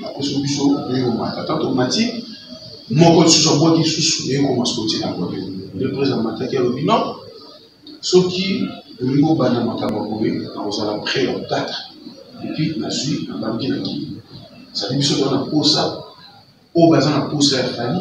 apesi biso ndenge komata ata tomati moko lisusu abwaki lisusu ndenge komasoti na boye nde prese amataki alobi non soki olingi obanda makambo ya boye nakozala près ya otata epuis nazwi nabandi na kii sadi biso toza na mposa oyo baza na mposa ya fani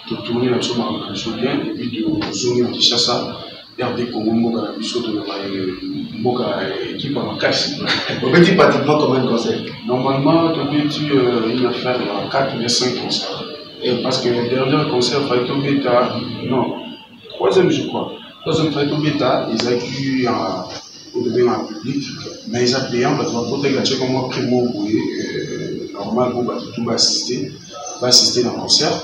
totuni na biso makambo na biso bien epuis tozongi na kinshasa rdc congo mboka na biso toloba mboka ekipe ya makasi obeti pratiquement combien de concert normalement tobeti euh, une affaire ya 4 ou 5 concert parce que dernier concert fai tobeta non troisième je crois troisième fai tobeta ezalaki oyo tobengaka public mais eza payant bato bakotaki batiaka mwa prix moko boye normal mpo bato tu baassiste baassiste na concert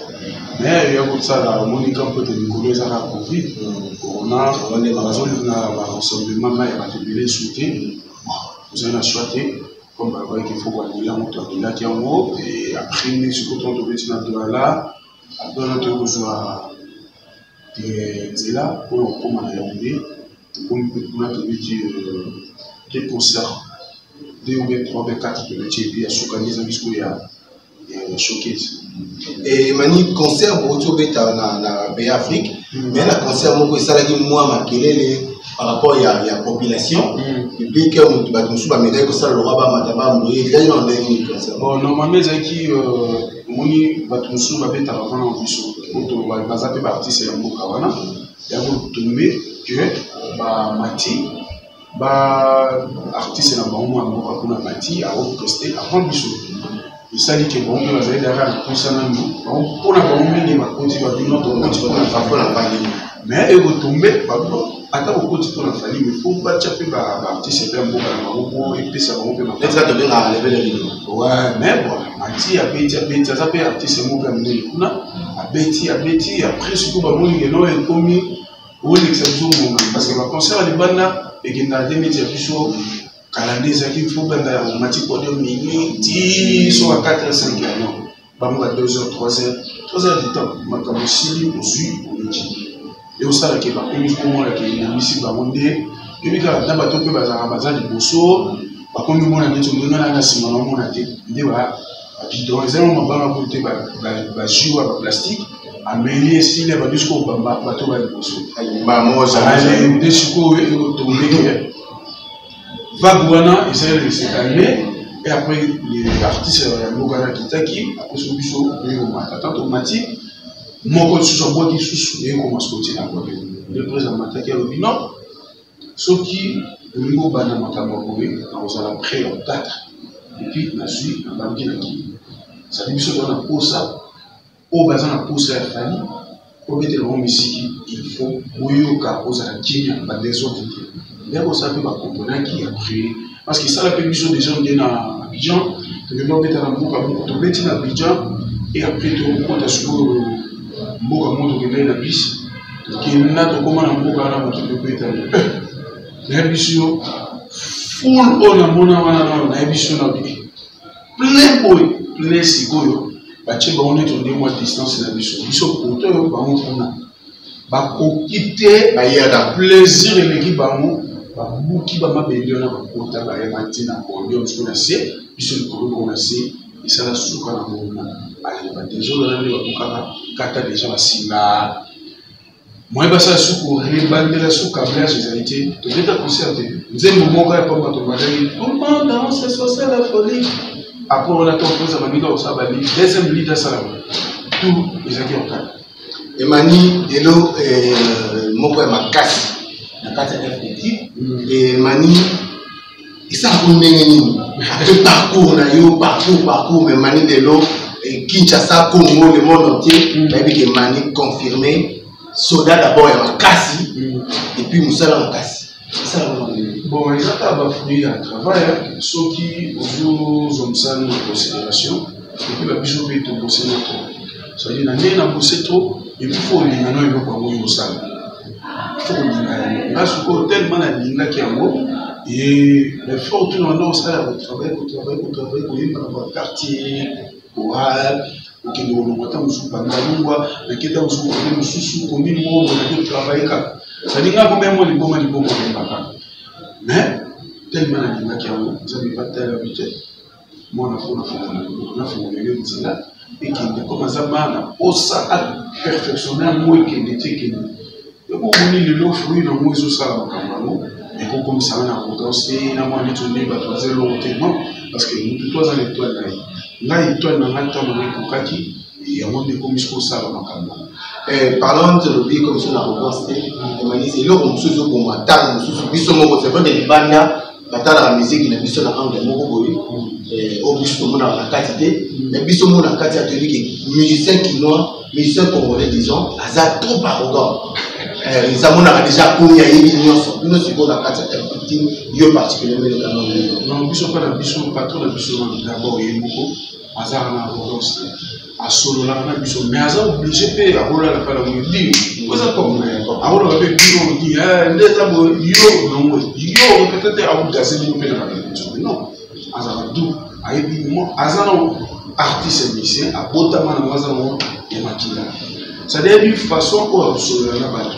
mais ya kosala omoni ka mpo te mikolo ezaka covid corona bazolina barassemblement mai ya bato ebele esu te ozali na choix te comme balobaki fo koanila moto andilaki yango e après nde sikoyo tobeti na dolala Après toye kozwa nzela mpo na kokoma na yaounde tokomi mpe kuna tobeti deux concert deux ou bien trois bien quatre tobeti epi ya suka nde ezangi sikoyo ya showcase emani concert bouti obeta na bay afrique hmm. mais na concert moko esalaki mwa makelele par rapport ya, ya population hmm. public bato mosusu bamekaki kosala lokola bamata bamboye ezali na ndenge nini concert bon normalement ezalaki euh, omoni bato mosusu babetaka mpona na biso oto baza mpe baartiste ya mboka wana ya kotombe ke bamati ba artiste na bango mwa mboka kuna mati aopreste avant biso esali ke bango mpe bazali daka na mposa nanu bango mpona bango mingi bakoti babino tokoti mpona bango na bangi mais ekotombe bango ata kokoti mpo na fali me fo batya mpe baartiste mpe ya mboka na bango mpo epesa bango mpe makaa tobengaka lebele lino wa me bon mati abeti abeti aza mpe artiste moko ya monene kuna abeti abeti après surtout bamoni lelo ekomi olekisa biso mbonga parce que baconcert ya libanda ekendaka te neti ya biso kala nde ezalaki fo banda ya mati podium nini ti soka 4 5 ya non bango ba 2 heures 3 heures 3 heures du temps makambo esili ozwi oleki ye osala ke bakomi komona ke elembisi bango nde yebi kaka na bato mpe bazalaka baza liboso bakomi mona neti ndenge na na nsima naomona te nde babidon eza yango mabanga mpo te bajui wa baplastique ameli esili abandi sikoyo bato ba liboso nde sikoyo ekotombe vague wana ezali na sekalme et après les artistes ya mboka na kitaki akoso biso oye komata ata tomati moko lisusu abwaki lisusu eye komasa kotina boye nde président mataki alobi non soki olingi obanda makambo ya boye nakozala près ya otatre epuis nazwi nabandi na kii ezali biso toza na mposa oyo baza na posa ya fali obetela bango misiki ilfo boyoka ozala kimia badesordre te nde kosala mpe bakomponaki ya prier parce que esala mpe biso desordre na abidjan tokende obeta na mboka moko tobeti na abidjan e après tokokota sikoyo mboka moko tokendaki na bisi tokenda tokóma na mboka wana moto tobetani nayebi biso yo ful oyo namona wana nano nayebi biso na biki plein boye plein sikoyo batie bango neti onde mwa distance na biso biso poto oyo bango kuna bakoki te bayaka plaisir eleki bango babuki bamabende wana bakota bayema te na podium siko na se biso likolo bango na se esala suka na monguna aleba deja olala nde bakokaka kata deja basinga moyen basala suku rebandela su cablage ezali te tobeta concert te nzembo moko ya pamba tobandaki comment danse sosa la folie apres wana to okoza baninga kosala bali deuxième lead asalama tout ezalaki ya kaka emani lelo eh, moko ya makasi na kati ya fpt emani esalaka ndenge nini mpe parcours na yo parcours parcours me mani lelo eh, kinshasa congo le monde entier mm. nayebi ke mani confirme soda d'abord ya makasi mm. epuis mosala makasi bon eza kaka bafruit ya travail soki ozozongisa na considération epuis babiso mpe tobose na trop cetadire na ndenge na bose trop epuis fo olinga no eloko yango yo osala tokolinga yango nga sikoyo tellement nalingaki yango effort tuna wana osala ya kotravaille kotravaille kotravaille koyemba na baquartier koral kokende kolongwa ntango mosusu bandalungwa nake ntango mosusu kote mosusu komi mongo nake travaille kaka sadi nga komemo liboma liboma koyemba kaka mais tellement nalingaki yango nzambe batala bite mwana mpo nafungolele nzela ekende mpo baza bana osa aperfectionne yango ekende ti ekende yango omoni lelo fui nango ezosala makambo yango ekokomisana na kodanse na mwa neti nde bato baza elongo te non parce que motu to aza na etoile na ye ngai etoile na ngai ntango na ekokaki yango nde ekomisi kosala makambo yango Eh, parlons de lobi comme ça na revanche te emanisi eloko mosusu ezoboma ntango mosusu biso moko c'est vrai de libanda batalaka miziki na biso na angle moko boye eh, oyo biso tomonaka na kati te na biso moko na kati atoyebi ke musicien kinois musicien congolais disons aza trop arrogant eh, eza monaka déjà komi ayebi nyonso bino sikoyo na kati ya putin yo particulièrement elekamango biso mpe na biso patron na biso na gabo ye moko aza na arrogance asololaka na biso mais aza oblige mpe akolala kala boye di oza akolaka mpe bino di nde eza boye yo nango yo peut-être akodase bino mpe na babiso non azalaka du ayebi mo aza na artiste musicien abotama nango aza nango ya makila c'est-à-dire yebi façon oyo akosolola na bato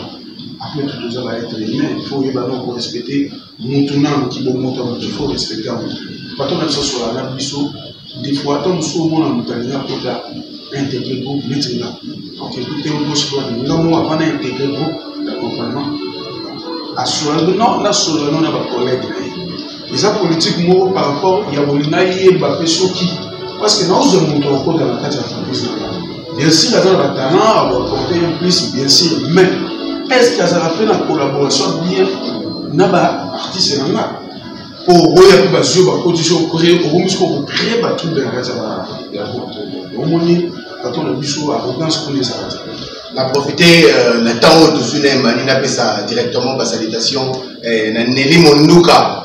après tout toza baetre humain il faut oyeba no korespecte mutu nanu kibomoto ya mutu faut respecte ya mutu patron na biso asola na biso des fois ata mosusu omona moto alingi akota integre groupe neti nga okekuti te gauche droite nga moko ava na integre groupe ya compagnement asola no nasola no na bacollègue na ye eza politique moko par rapport ya bolinga yeba mpe soki parce que naozwa moto akota na kati ya entreprise na nga Bien sûr, aza na talent, avoir porté un plus, bien sûr, mais est-ce que azala fait la collaboration bien na ba artiste na nga? Po boya pe bazio ba koti so créer, au moins ko créer ba truc de raza ba ya ko. Au moins bato na biso arrogance kuna ezalaka na profite euh, na ntango oyo tozwi na emani napesa directement basalutation euh, na neli monduka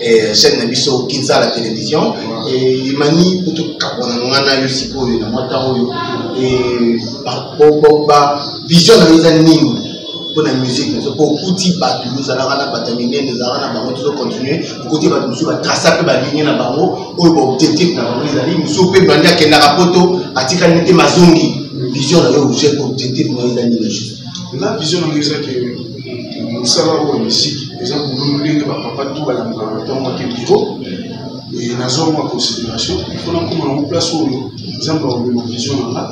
eh, chaîne na biso kinsala télévision eh, emani kutu kabwana na ngai na yo sikoyo na mwa ntango oyo eh, bavision na yo eza nini mpo na musique na biso mpo okuti bato ozalaka na bato ya minene ozalaka na bango tozo continue okuti bato mosusu batrasa mpe baligne na bango oyo baobjectif na bango ezali mosusu mpe bandi akendaka poto atikali te mazongi vision na yo objet objectif na yo eza nini juste la vision na yo eza ke mosala oyo misiki eza bololo ndenge bapapa to balandaka ntango ake biro nazwa mwa considération ifo nakoma nango place oyo nzambe akomema vision na nga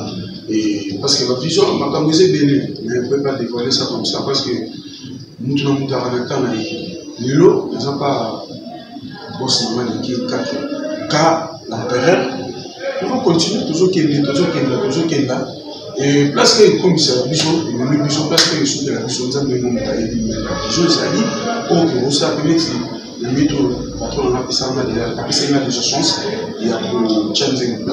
parce que bavision makambo eza ebele mais on peut pas dévoiler ça comme ça parce que moto na moto aka na temps na ye lelo naza pa boss na ngai leki kake ka l'empereur toko continue tozokende tozokenda tozokenda place oyo ekomisaka biso ememi biso place oyo esukela biso nzambe emonaka yebi meka ezo ezali oyo kobosala mpe neti na mito patron nanga apesanga apesaki nga déjà chance ya kotya nzembo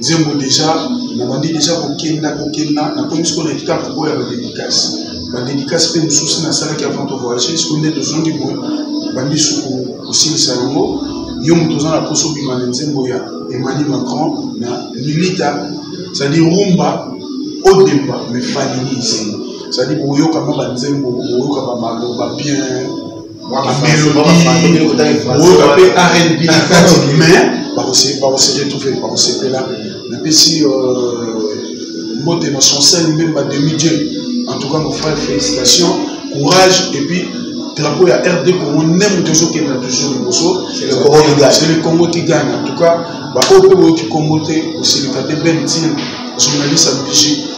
nzembo deja nabandi deja kokenda kokenda nakomi sikoyo na etape oyo ya badedikasi badedikasi mpe mosusu nasalaki avant to voyage sikoyo nde tozongi boye bandi suku kosilisa yango yo moto oza na mposa obima na nzembo ya emmanuel macron na lilita cestadi rumba odemba mefalini nzembo cestadi boyoka mwa banzembo boyoka bamaloba bien oyoka mpe rnb na kati mais bakoseretrouve bakosepela napesi mbote na chancel mbemba demi dieu en tout cas mon frère félicitation courage et puis drapeau ya rd congo nde moto ezokende na toujours liboso c'est le congo qui gagne en tout cas baoyo mpe boyoki congo te osilika te ben tine journaliste ya bigi